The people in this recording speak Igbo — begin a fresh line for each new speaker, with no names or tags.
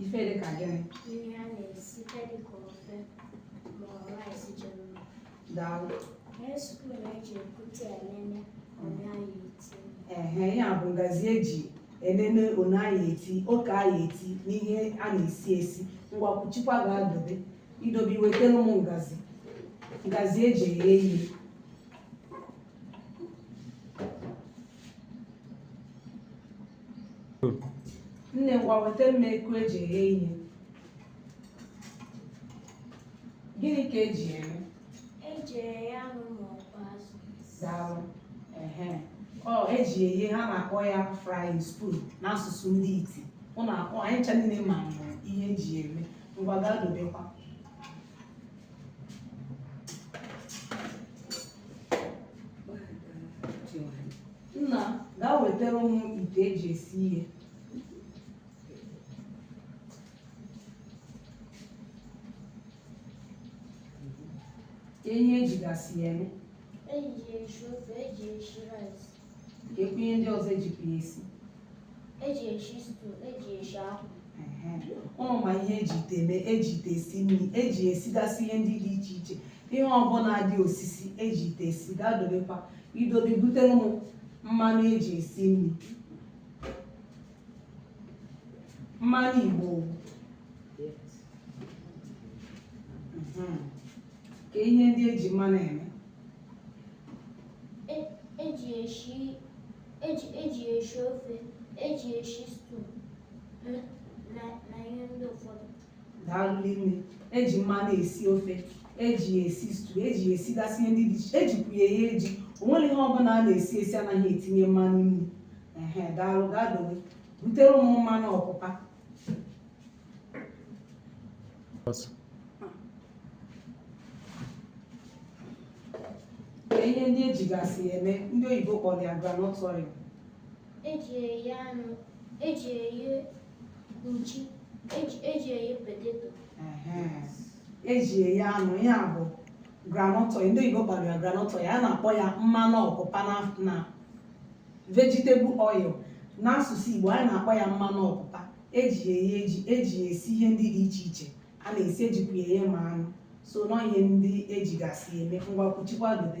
ife
dị ka gịnị ihe a
na-esite dị ka ofe ma ọ rice ji mma
daalụ ihe spoon
eji ekute elele one anyị eti ehe ya bụ ngazi
eji enene one anyị eti oke anyị eti n'ihe a na-esi esi ngwa kwuchikwa gaa dobe idobe iwetara m ngazi ngazi eji eghe ihe nne ngwa weta m eku eji eghe ihe gịnị ka eji eme eji eghe
anụ ma ọ bụ azụ daalụ
ehe ọ eji eghe ha na-akpọ ya frying spoon n'asụsụ ndị iti ụnụ akpọ anyị ncha niile ma ihe eji eme ngwa gaa dobekwa Nna, gaa wetara m ite eji esi ihe. Kee ihe ejigasị ya eme, Eji ya esi
ofe, eji ya esi rice. keekwu ihe
ndị ọzọ ejikwa ya esi.
eji eshi stew eji eshi akwụ
ụnụ ma ihe eji ite eme eji ite esi nri eji esigasị ihe ndị dị iche iche ihe ọbụla dị osisi eji ite esi gaa dobekwa idobe butere m mmanụ eji esi nri mmanụ igbo Mhm. kee ihe ndị eji mmanụ eme
eji eshi ji eji eshi ofe eji eshi stew na na ihe ndị ụfọdụ daalụ nne
eji mmanụ esi ofe eji ya esi stew eji ya esigasị ihe ndị dị iche ejikwu ya eghe ji o nwere ihe ọbụla a na-esi esi anaghị etinye mmanụ nri ehe daalụ gaa dowe butere m mmanụ ọpụpa Bas. Kee ihe ndị ejigasị eme ndị oyibo kpọrọ ya groundnut oil. eji eye anụ
eji eye
nchi eji eji eye potato Ehe. eji eye anụ ya bụ groundnut oil ndị oyibo kpọrọ ya groundnut oil a na-akpọ ya mmanụ ọpụpa na na vegetable oil n'asụsụ Igbo anyị na-akpọ ya mmanụ ọpụpa eji ya eghe ji eji ya esi ihe ndị dị iche iche a na-esi ejikwa ya eghe ma anụ so nọ ihe ndị ejigasị eme ngwa kwuchikwa dobe